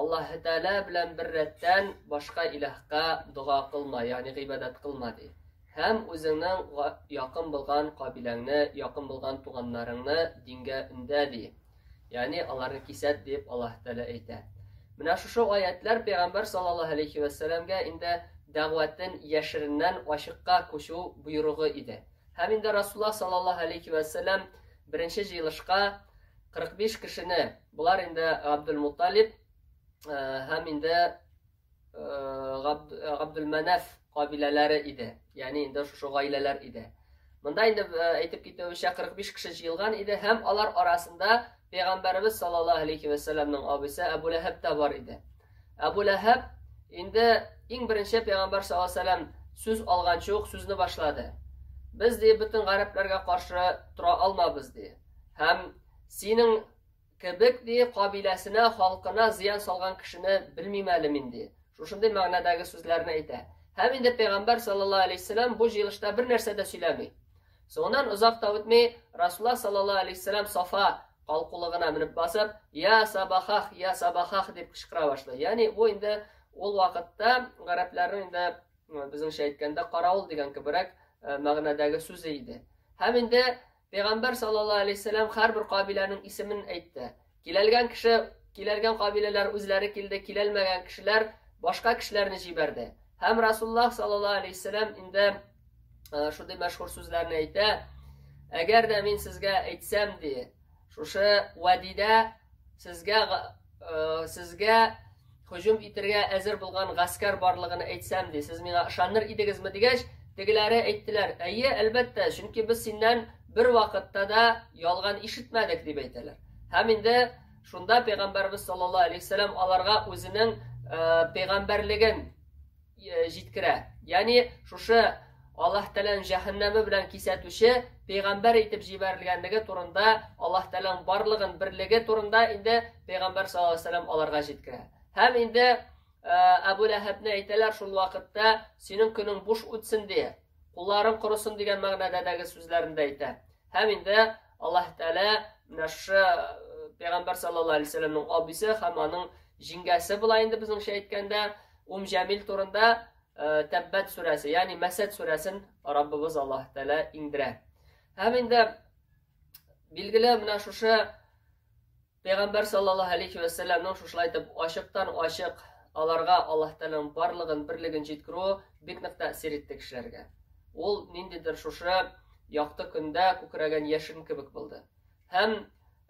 Аллаһы Тәгалә белән бер рәттән башка илаһка дога кылма, ягъни гыйбадәт кылма ди. Һәм үзеңнең якын булган кабиләңне, якын булган туганнарыңны дингә өндә ди. Ягъни аларны кисәт дип Аллаһы Тәгалә әйтә. Менә шушы аятлар пәйгамбәр саллаллаһу алейхи ва сәлламгә инде дәгъватын яшереннән ачыкка күчү буйругы иде. Һәм инде Расулла саллаллаһу алейхи ва сәллам беренче җыелышка 45 кешене, болар инде Габдулмуталиб һәм инде Габдулмәнәф кабиләләре иде. Ягъни инде шушы гаиләләр иде. Монда инде әйтеп китүебезчә 45 кеше җыелган иде һәм алар арасында пәйгамбәребез саллаллаһу алейхи ва салламның абысы Әбу Ләһәб тә бар иде. Әбу Ләһәб инде иң беренче пәйгамбәр саллаллаһу алейхи ва саллам сүз алганчы ук сүзне башлады. Без ди бөтен гарәпләргә каршы тора алмабыз ди. Һәм синең кебек ди кабиләсенә, халкына зыян салган кешене белмим әле мин ди. Шушындый мәгънәдәге сүзләрне әйтә. Һәм инде пәйгамбәр саллаллаһу алейһи вәсәләм бу җыелышта бер нәрсә дә сөйләми. Соңыннан озак та үтми, Расулла саллаллаһу алейһи вәсәләм Сафа калкулыгына менеп басып, "Я сабахах, я сабахах" дип кычкыра башлый. Ягъни бу инде ул вакытта гарәпләрнең инде безнеңчә әйткәндә каравыл дигән кеберәк мәгънәдәге сүзе иде. Һәм инде Пәйгамбәр саллаллаһу алейһи ва сәлләм һәрбер кабиләнең исемен әйтте. Киләлгән кеше, киләлгән кабиләләр үзләре килде, киләлмәгән кешеләр башка кешеләрне җибәрде. Һәм Расуллаһ саллаллаһу алейһи ва сәлләм инде шундый мәшһүр сүзләрне әйтә. Әгәр дә мин сезгә әйтсәм, ди, шушы вадидә сезгә Сезгә һөҗүм итергә әзер булган гаскәр барлыгын әйтсәм, ди, сез миңа ышаныр идегезме дигәч, тегеләре әйттеләр, әйе, әлбәттә, чөнки без синнән бер вакытта да ялган ишетмәдек, дип әйтәләр. Һәм инде шунда пәйгамбәрбез саллаллаһу алейһи вәсәлләм аларга үзенең пәйгамбәрлеген Э, җиткерә. Ягъни шушы Аллаһ Тәгаләнең җәһәннәме белән кисәтүче пәйгамбәр итеп җибәрелгәнлеге турында, Аллаһ Тәгаләнең барлыгын берлеге турында инде пәйгамбәр саллаллаһу алейһи вәсәлләм аларга җиткерә. Һәм инде э, Әбу Ләһәбне әйтәләр шул вакытта синең көнең буш үтсен ди, кулларың корысын дигән мәгънәдәге сүзләрен дә әйтә. Һәм инде Аллаһ Тәгалә менә шушы э, пәйгамбәр саллаллаһу алейһи вәсәлләмнең абыйсы һәм аның җиңгәсе була инде безнеңчә әйткәндә, Ум Җәмил турында Тәббәт сүрәсе, ягъни Мәсәд сүрәсен Раббыбыз Аллаһ Тәгалә иңдерә. Һәм инде билгеле менә шушы Пәйгамбәр саллаллаһу алейхи ва салламның шушылай итеп ачыктан ачык аларга Аллаһ Тәгаләнең барлыгын, берлеген җиткерүе бик нык тәэсир итте кешеләргә. Ул ниндидер шушы якты көндә күкрәгән яшен кебек булды. Һәм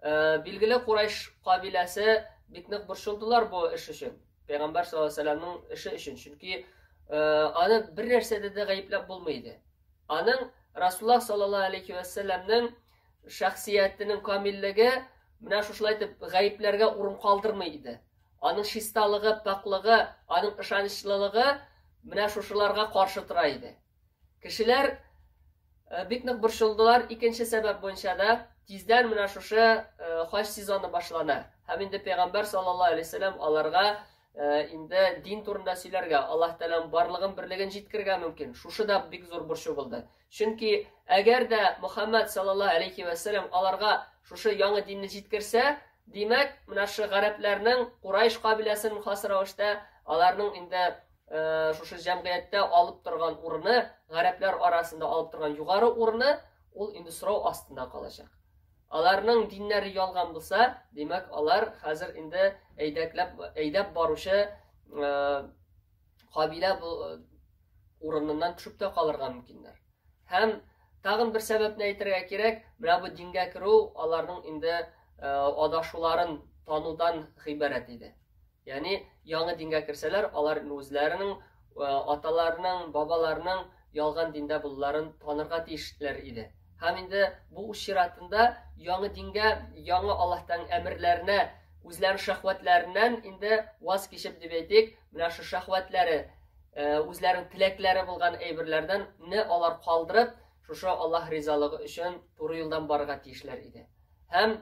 Билгеле, Курайш кабиләсе бик нык борчылдылар бу эш өчен. Пәйгамбәр саллаллаһу алейһи вәсәлләмнең эше өчен. Чөнки аны бер нәрсәдә дә гаепләп булмый иде. Аның Расулла саллаллаһу алейһи вәсәлләмнең шәхсиятенең камиллеге менә шушылай итеп гаепләргә урын калдырмый иде. Аның чисталыгы, пакьлыгы, аның ышанычлылыгы менә шушыларга каршы тора иде. Кешеләр бик нык борчылдылар. Икенче сәбәп буенча да тиздән менә шушы хаҗ сезоны башлана. Һәм инде пәйгамбәр саллаллаһу алейһи вәсәлләм аларга инде дин турында сөйләргә, Аллаһ Тәгаләнең барлыгын берлеген җиткергә мөмкин. Шушы да бик зур борчу булды. Чөнки әгәр дә Мөхәммәд саллаллаһу алейһи вәсәлләм аларга шушы яңа динне җиткерсә, димәк, менә шушы гарәпләрнең Курайш кабиләсенең хас рәвештә аларның инде Э, шушы җәмгыятьтә алып торган урыны, гарәпләр арасында алып торган югары урыны ул инде сорау астында калачак. Аларның диннәре ялган булса, димәк, алар хәзер инде әйдәкләп әйдәп баручы э, кабилә э, урыныннан төшеп тә калырга мөмкиннәр. Һәм тагын бер сәбәпне әйтергә кирәк, менә бу дингә керү аларның инде адашуларын танудан гыйбарәт иде. Ягъни яңа дингә керсәләр, алар үзләренең аталарының, бабаларының ялган диндә булуларын танырга тиешләр иде. Һәм инде бу үз чиратында яңа дингә, яңа Аллаһтан әмерләренә, үзләренең шәхвәтләреннән инде ваз кичеп дип әйтик, менә шу шәхвәтләре, үзләренең теләкләре булган әйберләрдән не алар калдырып, шушы Аллаһ ризалыгы өчен туры юлдан барырга тиешләр иде. Һәм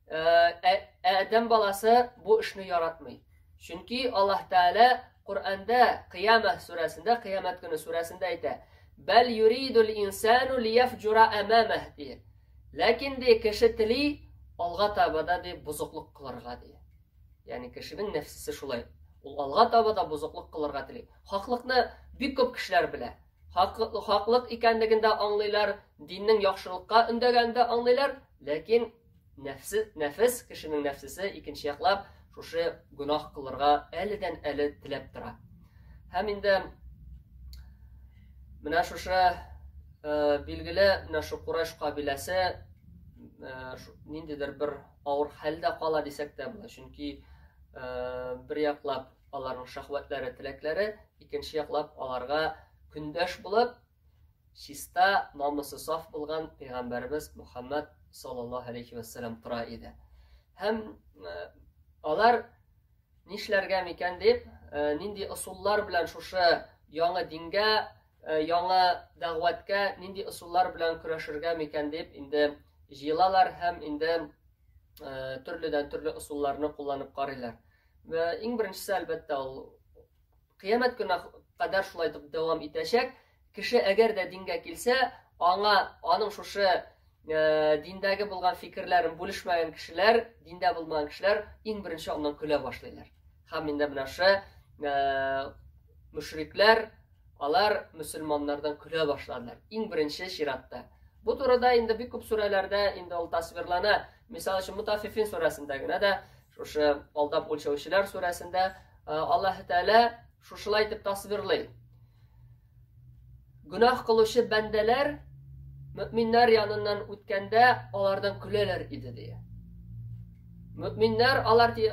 Адәм баласы бу эшне яратмый. Чөнки Аллаһ Тәгалә Коръәндә Кыяма сүрәсендә, Кыямәт көне сүрәсендә әйтә: "Бәл юридул инсану лияфҗура амамах" ди. Ләкин ди кеше тели алга таба да ди бузыклык кылырга ди. Ягъни кешенең нәфсесе шулай. Ул алга таба да бузыклык кылырга тели. Хаклыкны бик күп кешеләр белә. Хаклык икәнлеген дә аңлыйлар, диннең яхшылыкка өндәгәнен дә аңлыйлар, ләкин Нәфсе, нәфес, кешенең нәфсесе икенче яклап шушы гөнаһ кылырга әледән әле теләп тора. Һәм инде менә шушы э, билгеле менә шу Курайш кабиләсе э, ниндидер бер авыр хәлдә кала дисәк тә була. Чөнки э, бер яклап аларның шахватлары, теләкләре, икенче яклап аларга көндәш булып, Чиста, намысы саф булган пәйгамбәребез Мухаммад саллаллаһу алейхи вәссәлам тора иде. Һәм э, алар нишләргә микән дип, э, нинди ысуллар белән шушы яңа дингә, э, яңа дәгъвәткә нинди ысуллар белән көрәшергә микән дип инде җыелалар һәм инде төрледән төрле ысулларны кулланып карыйлар. Иң беренчесе әлбәттә ул Кыямәт көненә кадәр шулай итеп дәвам итәчәк. Кеше әгәр дә дингә килсә, аңа аның шушы э, диндәге булган фикерләрен бүлешмәгән кешеләр, диндә булмаган кешеләр иң беренче аннан көлә башлыйлар. Һәм инде менә шушы э, мөшрикләр, алар мөселманнардан көлә башладылар. Иң беренче чиратта. Бу турыда инде бик күп сүрәләрдә инде ул тасвирлана. Мисал өчен, Мутафифин сүрәсендә генә дә, шушы алдап үлчәүчеләр сүрәсендә Аллаһ Тәгалә шушылай итеп тасвирлый. Гүнах кылучы бәндәләр мөминнәр яныннан үткәндә алардан көләләр иде ди. Мөминнәр алар ди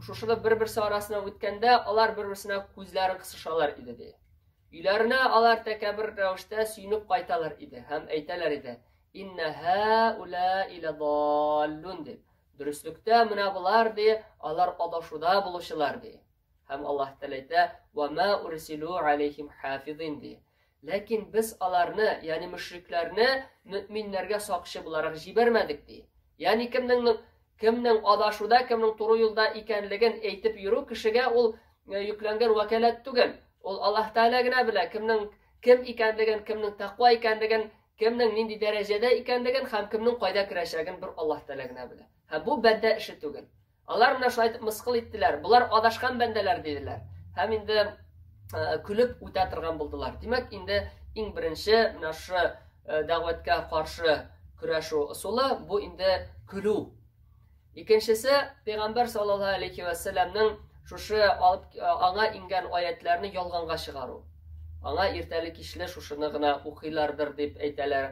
шушылы бер-берсе арасына үткәндә алар бер-берсенә күзләрен кысышалар иде ди. Өйләренә алар тәкәбер рәвештә сөенеп кайталар иде һәм әйтәләр иде: Инна һәүләи ләдаллун дип. Дөреслектә менә болар ди, алар адашуда булучылар ди. Һәм Аллаһ Тәгалә әйтә, "Ва ма урсилу алейхим хафизин" ди. Ләкин без аларны, ягъни мөшрикләрне мөэминнәргә сакчы буларак җибәрмәдек ди. Ягъни кемнең кемнең адашуда, кемнең туры юлда икәнлеген әйтеп йөрү кешегә ул э, йөкләнгән вәкаләт түгел. Ул Аллаһ Тәгалә генә белә, кемнең кем икәнлеген, кемнең тәкъва икәнлеген Кемнең нинди дәрәҗәдә икәнлеген һәм кемнең кайда керәчәген бер Аллаһ Тәгалә генә белә. Һәм бу бәндә эше түгел. Алар менә шулай итеп мыскыл иттеләр. Болар адашкан бәндәләр диделәр. Һәм инде көлеп үтә торган булдылар. Димәк, инде иң беренче менә шушы дәгъвәткә каршы көрәшү ысулы бу инде көлү. Икенчесе, пәйгамбәр саллаллаһу алейхи ва сәлламның шушы алып аңа ингән аятларны ялганга чыгару. Аңа иртәле кичле шушыны гына укыйлардыр дип әйтәләр.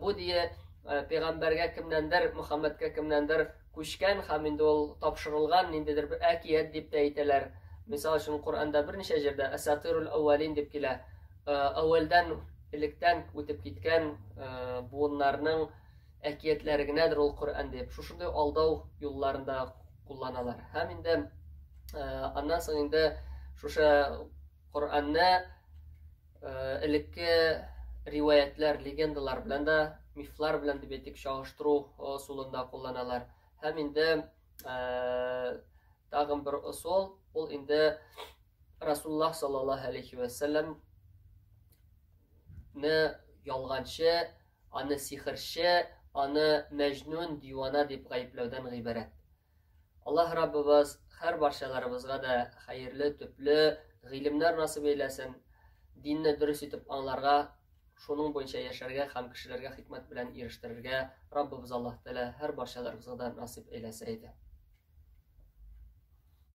Бу дие пәйгамбәргә кемнәндер, Мөхәммәдкә кемнәндер күчкән һәм инде ул тапшырылган ниндидер бер әкият дип тә әйтәләр. Мисал өчен Коръәндә берничә җирдә Асатирул Аввалин дип килә. Әүвәлдән электән үтеп киткән буыннарның әкиятләре генәдер ул Коръән дип, шушындый алдау юлларын да кулланалар. Һәм инде аннан соң инде шушы Коръәнне элекке риваятлар, легендалар белән дә, мифлар белән дип әйтик, чагыштыру ысулында кулланалар. Һәм инде тагын бер ысул, ул инде Расуллах саллаллаһу алейхи ва саллям не ялганчы Аны сихерче, аны мәҗнүн, дивана дип гаепләүдән гыйбарәт. Аллаһ Раббыбыз һәр барчаларыбызга да хәерле, төпле гыйлемнәр насыйп әйләсен, динне дөрес итеп аңларга, шуның буенча яшәргә һәм кешеләргә хикмәт белән ирештерергә Раббыбыз Аллаһ Тәгалә һәр барчаларыбызга да насыйп әйләсә иде.